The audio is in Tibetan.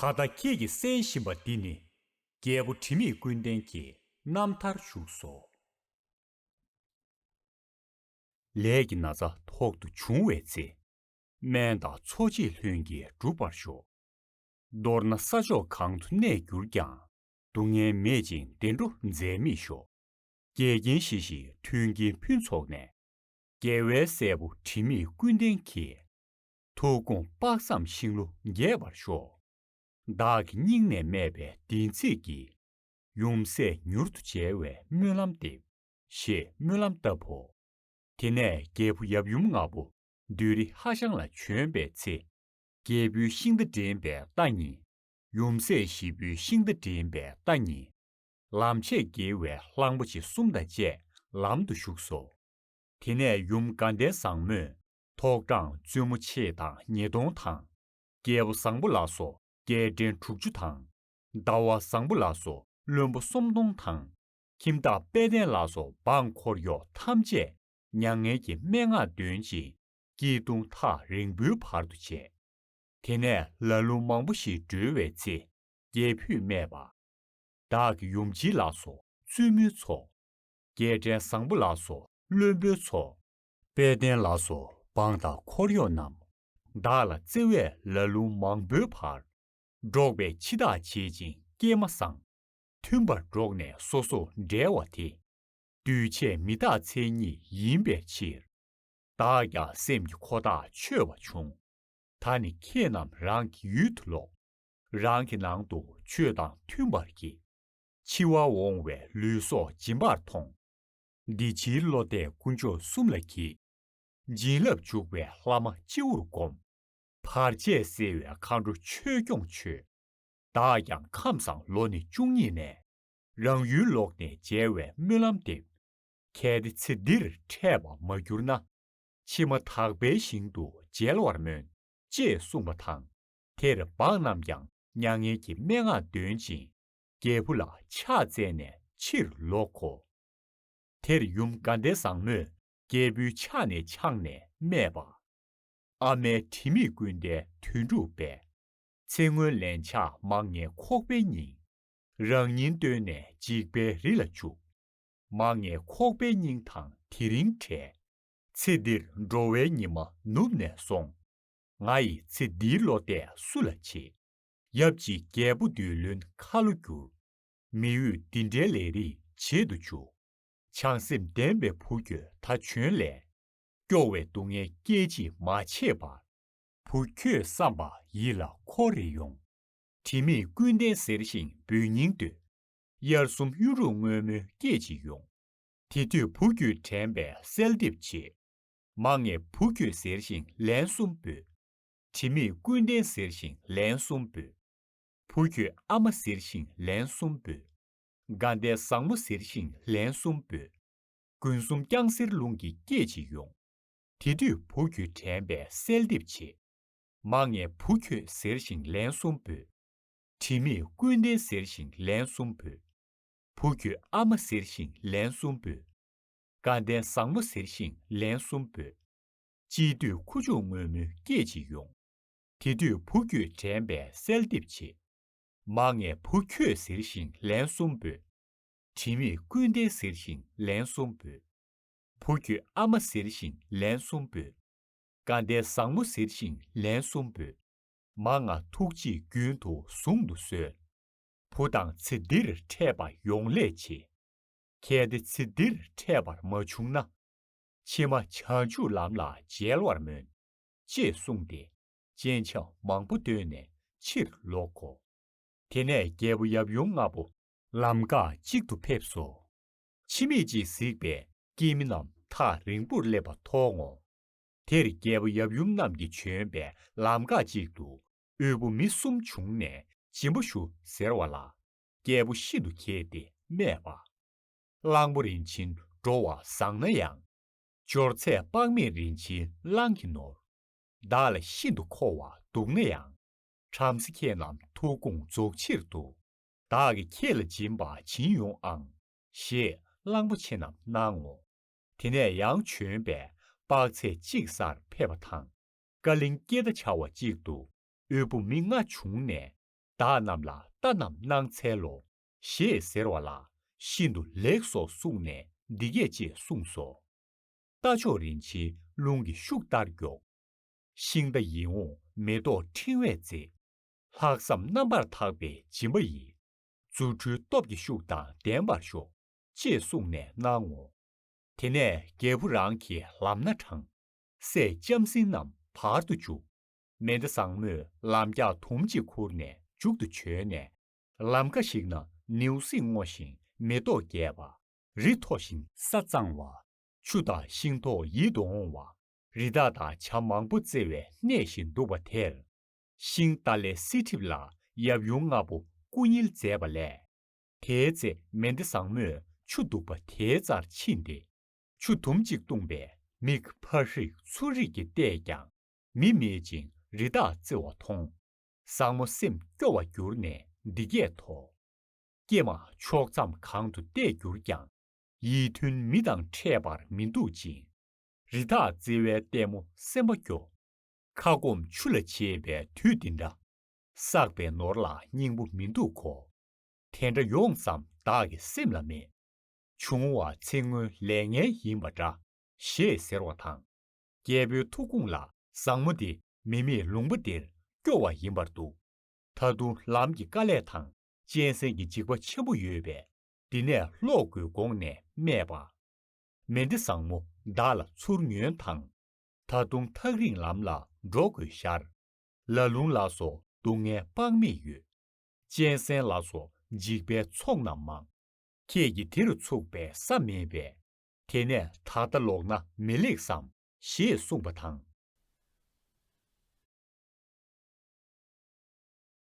ད་ལྟ་ཁྱེད་ཀྱིས་གསན་བཞིན་པ་འདི་ནི། རྒྱལ་པོ་དྲི་མེད་ཀུན་ལྡན་གྱི་རྣམ་ཐར་བཞུགས་སོ། ལས་ཀྱི་ན་ཚ་ཐོག་ཏུ་བྱུང་བའི་ཚེ། སྨན་དང་འཚོ་བྱེད་ལྷུན་གྱིས་འགྲུབ་པར་ཤོག། མདོར་ན་ས་ཕྱོགས་གང་དུ་གནས་གྱུར་ཀྱང། སྡུག་བསྔལ་མེད་ཅིང་བདེ་འགྲོ་འཛད་མེད་ཤོག། འགལ་རྐྱེན་ཞི་ཞིང་མཐུན་རྐྱེན་ཕུན་ཚོགས་ནས། རྒྱལ་བའི་སྲས་པོ་དྲི་མེད་ཀུན་ལྡན་གྱིས། ཐུགས་དགོངས་དཔག་བསམ་ཤིང་ལོ་རྒྱས་པར་ཤོག། བདག་གི་སྙིང་ནས་སྨྲས་པའི་བདེན་ཚིག་གི། ཡུམ་སྲས་མྱུར་དུ་མཇལ་བའི་སྨོན་ལམ་འདེབས། ཞེས་སྨོན་ལམ་བཏབ་བོ། དེ་ནས་རྒྱལ་བུ་ཡབ་ཡུམ་ནག་པོ་བདུད་རི་ཧ་ཤང་ལ་བྱོན་པའི་ཚེ། རྒྱལ་བུའི་ཤིང་རྟ་འདྲེན་པའི་རྟ་གཉིས། ཡུམ་སྲས་བཞི་པོའི་ཤིང་རྟ་འདྲེན་པའི་རྟ་གཉིས། ལམ་ཆས་དགེ་བའི་གླང་པོ་ཆེ་གསུམ་དང་བཅས་ལམ་དུ་ཞུགས་སོ། དེ་ནས་ཡུམ་དགའ་ལྡན་བཟང་མོས་ཐོག་དྲངས་བཙུན་མོ་མཆེད་དང་ཉིས་སྟོང་དང། རྒྱལ་པོ་བཟང་པོ་ལ་སོགས་རྒྱལ་ཕྲན་དྲུག་ཅུ་དང། ཟླ་བ་བཟང་པོ་ལ་སོགས་བློན་པོ་སུམ་སྟོང་དང། ཁྱིམ་བདག་དཔལ་ལྡན་ལ་སོགས་འབངས་འཁོར་གཡོག་ཐམས་ཅད་མྱ་ངན་གྱི་སྨྲེ་སྔགས་འདོན་ཅིང་སྐྱིལ་ཀྲུང་ཐག་རིང་པོའི་བར་དུ་བྱས། དེ་ནས་ལ་ལུང་མང་པོ་ཞིག་སྒྲོལ་བའི་ཚེ། རྒྱལ་བུས་སྨྲས་པ། བདག་གི་ཡུམ་བྱི་ལ་སོགས་བཙུན་མོའི་ཚོགས། རྒྱལ་ཕྲན་བཟང་པོ་ལ་སོགས་བློན་པོའི་ཚོགས། དཔལ་ལྡན་ལ་སོགས་འབངས་དང་འཁོར་གཡོག་རྣམས། བདག་ལ་བརྩེ་བས་ལ་ལུང་མང་པོའི་བར། སྒྲོགས་པའི་ཕྱི་ཐག་བྱེད་ཅིང་སྐྱེལ་མ་བསྲང། མཐུན་པར་འགྲོགས་ནས་སོ་སོར་འབྲལ་བ་དེ། འདུས་བྱས་མི་རྟག་མཚན་ཉིད་ཡིན་པའི་ཕྱིར། བདག་ཀྱང་སེམས་ཀྱི་འཁོར་དག་ཆོད་བ་བྱུང། ད་ནི་ཁྱེད་རྣམས་རང་གི་ཡུལ་དུ་ལོག། རང་གི་ནང་དུ་ཆོས་དང་མཐུན་པར་གྱིས། འཆི་བ་འོང་བའི་ལུས་སྲོག་སྦྱིན་པར་མཐོང། འདི་ཕྱིའི་བློ་གཏད་དཀོན་མཆོག་གསུམ་ལ་གྱིས། བྱིན་རླབས་འཇུག་པའི་ལྷ་མ་སྤྱི་བོར་བསྒོམ། བར་ཆད་སེལ་བའི་མཁའ་འགྲོ་ཆོས་སྐྱོང་མཆོད། བདག་ཀྱང་ཁམས་བཟང་ལོ་ནི་བཅུ་གཉིས་ནས། རང་ཡུལ་ལོག་ནས་མཇལ་བའི་སྨོན་ལམ་འདེབས། གལ་ཏེ་ཚེ་འདིར་འཕྲད་པ་མ་གྱུར་ན། ཕྱི་མ་དག་པའི་ཞིང་དུ་མཇལ་བར་སྨོན། ཅེས་གསུངས་པ་དང། དེར་འབངས་རྣམས་ཀྱང་མྱ་ངན་གྱི་སྨྲེ་སྔགས་འདོན་ཅིང་རྒྱལ་བུ་ལ་ཕྱག་བཙལ་ནས་ཕྱིར་ལོག་གོ། དེར་ཡུམ་དགའ་ལྡན་བཟང་མོས་སྐྱེས་བུའི་ཕྱག་ནས་འཕྱངས་ནས་སྨྲས་པ། ཨ་མའི་དྲི་མེད་ཀུན་ཟླའི་དོན་འགྲུབ་པས། ཚེ་སྔོན་ལན་ཆགས་མང་ངེས་ཁོག་པའི་སྙིང། རང་སྙིང་བརྟོལ་ནས་འཇིགས་པའི་རི་ལ་བཅུག། མང་ངེས་ཁོག་པའི་སྙིང་དང་དེ་རིང་བྲལ། ཚེ་འདིར་འགྲོ་བའི་ཉི་མ་ནུབ་ནས་སོང། ང་ཡི་ཚེ་འདིའི་བློ་གཏད་སུ་ལ་བྱེད། ཡབ་ཅིག་རྒྱལ་པོ་བདུད་བློན་ཁ་ལོ་སྒྱུར། མི་ཡུལ་འདི་འདྲའི་ལས་རིགས་བྱེད་དུ་བཅུག། བྱང་སེམས་ལྡན་པའི་བུ་ཁྱོད་ད་བྱོན་ལས། སྐྱོ་བའི་སྡུག་བསྔལ་སྐད་ཅིག་མ་བྱེད་པར། བུ་ཁྱོད་བསམ་པ་ཡིད་ལ་འཁོར་རེ་ཡོང། དྲི་མེད་ཀུན་ལྡན་གཟེར་ཞིང་འབུལ་སྙིང་འདོད། དབྱར་གསུམ་གཡུ་འབྲུག་སྔོན་མོའི་སྐད་ཅིག་ཡོང། དེ་དུས་བུ་ཁྱོད་དྲན་པའི་གསལ་འདེབས་བྱེད། མ་ངེས་བུ་ཁྱོད་གཟེར་ཞིང་ལན་གསུམ་འབུལ། དྲི་མེད་ཀུན་ལྡན་གཟེར་ཞིང་ལན་གསུམ་འབུལ། བུ་ཁྱོད་ཨ་མ་ཟེར་ཞིང་ལན་གསུམ་འབོད། དགའ་ཟླའི་བཟང་མོ་ཟེར་ཞིང་ལན་གསུམ་འབོད། དགུན་གསུམ་རྐྱང་གསེར་རླུང་གིས་སྐྱེད་བྱེད་ཡོང། དེ་དུས་བུ་ཁྱོད་དྲན་པའི་གསལ་འདེབས་བྱེད། མ་ངེས་བུ་ཁྱོད་ཟེར་ཞིང་ལན་གསུམ་འབོད། དྲི་མེད་ཀུན་ལྡན་ཟེར་ཞིང་ལན་གསུམ་འབོད། བུ་ཁྱོད་ཨ་མ་ཟེར་ཞིང་ལན་གསུམ་འབོད། དགའ་ཟླའི་བཟང་མོ་ཟེར་ཞིང་ལན་གསུམ་འབོད། དཔྱིད་དུས་ཁུ་བྱུག་སྔོན་མོ་སྐྱེད་བྱེད་ཡོང། དེ་དུས་བུ་ཁྱོད་དྲན་པས་གསལ་འདེབས་བྱེད། མ་ངེས་བུ་ཁྱོད་ཟེར་ཞིང་ལན་གསུམ་འབོད། དྲི་མེད་ཀུན་ལྡན་ཟེར་ཞིང་ལན་གསུམ་འབོད། བུ་ཁྱོད་ཨ་མ་ཟེར་ཞིང་ལན་གསུམ་འབོད། བཀའ་གདན་བཟང་མོ་ཟེར་ཞིང་ལན་གསུམ་འབོད། མ་ང་ཐུགས་རྗེས་རྒྱུན་དུ་བཟུང་དུ་གསོལ། བུ་དང་ཚེ་འདིར་འཕྲད་པ་ཡོང་ལས་ཆེ། གལ་ཏེ་ཚེ་འདིར་འཕྲད་པར་མ་བྱུང་ན། ཕྱི་མ་བྱང་ཆུབ་ལམ་ལ་མཇལ་བར་སྨོན། ཅེས་གསུངས་ཏེ། སྤྱན་ཆབ་མང་པོ་བརྡོས་ནས་ཕྱིར་ལོག་གོ། དེ་ནས་རྒྱལ་པོ་ཡབ་ཡུམ་ལྔ་པོ། ལམ་འགག་གཅིག་ཏུ་ཕེབས་སོ། འཆི་མེད་ཅིག་གཟིགས་པས་སྐྱེས་མི་རྣམས་ཐག་རིང་པོར་སླེབས་པ་མཐོང་ངོ། དེར་རྒྱལ་པོ་ཡབ་ཡུམ་རྣམས་ཀྱིས་བྱོན་པས་ལམ་འགག་ཅིག་ཏུ་དབུལ་པོ་མི་གསུམ་བྱུང་ནས་སྦྱིན་པ་ཞུ་ཟེར་བ་ལ། རྒྱལ་པོ་ཤིན་ཏུ་མཁས་ཏེ་སྨྲས་པ། གླང་པོ་རིན་ཆེན་འགྲོ་བ་བཟང་ན་ཡང། སྦྱོར་ཚད་དཔག་མེད་རིན་ཆེན་གླང་གི་ནོར། བདག་ལ་ཤིན་ཏུ་མཁོ་བ་འདུག་ན་ཡང། བྲམ་ཟེ་ཁྱེད་རྣམས་ཐུགས་དགོངས་རྫོགས་ཕྱིར་དུ། བདག་གིས་ཁྱེད་ལ་སྦྱིན་པ་བྱིན་ཡོང་ཨང། ཞེས་གླང་པོ་ཆེ་རྣམས་གནང་ངོ། དེ་ནས་ཡང་བྱོན་པས་དཔག་ཚད་གཅིག་སར་ཕེབས་པ་དང། ཀ་གླིང་སྐྱེ་རྟ་བྱ་བ་གཅིག་ཏུ་དབུལ་པོ་མི་ལྔ་བྱུང་ནས་བདག་རྣམས་ལ་རྟ་རྣམས་གནང་འཚལ་ལོ། ཞེས་ཟེར་བ་ལ་ཤིན་ཏུ་ལེགས་སོ་གསུངས་ནས་འདི་སྐད་ཅེས་གསུངས་སོ། རྟ་མཆོག་རིན་ཆེན་རླུང་གི་ཤུགས་ལྟར་མགྱོགས། ཤིང་རྟ་ཡིད་འོང་མེ་ཏོག་ཕྲེང་བས་མཛེས། ལྷག་བསམ་རྣམ་པར་དག་པའི་སྦྱིན་པ་ཡིས། རྫུ་འཕྲུལ་སྟོབས་ཀྱི་ཤུགས་དང་ལྡན་པར་ཤོག། ཅེས་གསུངས་ནས་གནང་ངོ། དེ་ནས་རྒྱལ་བུ་རང་གི་ལམ་སྣ་དྲངས། སྲས་ལྕམ་སྲིང་རྣམས་བར་དུ་འཇུག། མེ་མདའ་བཟང་མོས་ལམ་རྒྱགས་དུམ་གཅིག་ཁུར་ནས་མཇུག་ཏུ་བྱོན་ནས། ལམ་ཁ་ཞིག་ན་ནེའུ་སིང་སྔོ་ཞིང་མེ་ཏོག་རྒྱས་པ། རི་མཐོ་ཞིང་ས་གཙང་བ། ཆུ་དང་ཤིང་ཐོག་ཡིད་དུ་འོང་བ། རི་དྭགས་དང་བྱ་མང་པོ་རྩེ་བའི་གནས་ཤིག་འདུག་པ་དེར། ཤིང་རྟ་ལས་སྲིད་ཁྲིབས་ལ་ཡབ་ཡུམ་ལྔ་པོ་སྐུ་བསྙིལ་མཛད་པ་ལས། དེའི་ཚེ་མེ་འདི་བཟང་མོས་ཆུ་འདུག་པ་དེའི་རྩར་ཕྱིན་ཏེ། ཆུ་དུམ་གཅིག་བཏུངས་པས་མིག་འཕར་རིགས་ཚུར་རིགས་ཀྱིས་བལྟས་ཀྱང་མི་མེད་ཅིང་རི་དྭགས་རྩེ་བ་མཐོང། བཟང་མོ་སེམས་སྐྱོ་བ་གྱུར་ནས་འདི་སྐད་དོ། ཀྱེ་མ་ཕྱོགས་མཚམས་གང་དུ་བལྟས་གྱུར་ཀྱང། ཡིད་མཐུན་མི་དང་འཕྲད་པར་མི་འདུག་ཅིང། རི་དྭགས་བརྩེ་བའི་ལྟད་མོ་སེམས་པ་སྐྱོ། ཁ་སྐོམ་ཆུ་ལ་བྱེད་པའི་དུས་འདི་འདྲ། བསགས་པའི་ནོར་ལ་སྙིང་པོ་མི་འདུག་གོ། དེ་འདྲ་ཡོངས་ཙམ་བདག་གི་སེམས་ལ་མེད། བྱུང་བ་ཚེ་སྔོན་ལས་ངན་ཡིན་པ་འདྲ། ཞེས་ཟེར་བ་དང། རྒྱལ་པོའི་ཐུགས་དགོངས་ལ་བཟང་མོ་དེ་མི་མེད་ལུང་པ་འདིར་སྐྱོ་བ་ཡིན་པར་འདུག་ད་དུང་ལམ་གྱི་དཀའ་ལས་དང་གཅན་གཟན་གྱི་འཇིགས་པ་ཆེན་པོ་ཡོད་པས་འདི་ནས་ལོག་དགོས་དགོངས་ནས་སྨྲས་པ། མེ་འདི་བཟང་མོ་བདག་ལ་ཚུར་ཉོན་དང། ད་དུང་ཐག་རིང་ལམ་ལ་འགྲོ་དགོས་ཤར། ལ་ལུང་ལ་སོགས་སྡུག་བསྔལ་དཔག་མེད་ཡོད། གཅན་གཟན་ལ་སོགས་འཇིགས་པའི་ཚོགས་རྣམས་མང། ཁྱེད་ཀྱིས་དེ་རུ་ཚུགས་པའི་ས་མེད་པས། དེ་ནས་ད་ལྟ་ལོག་ན་མི་ལེགས་སམ། ཞེས་གསུངས་པ་དང།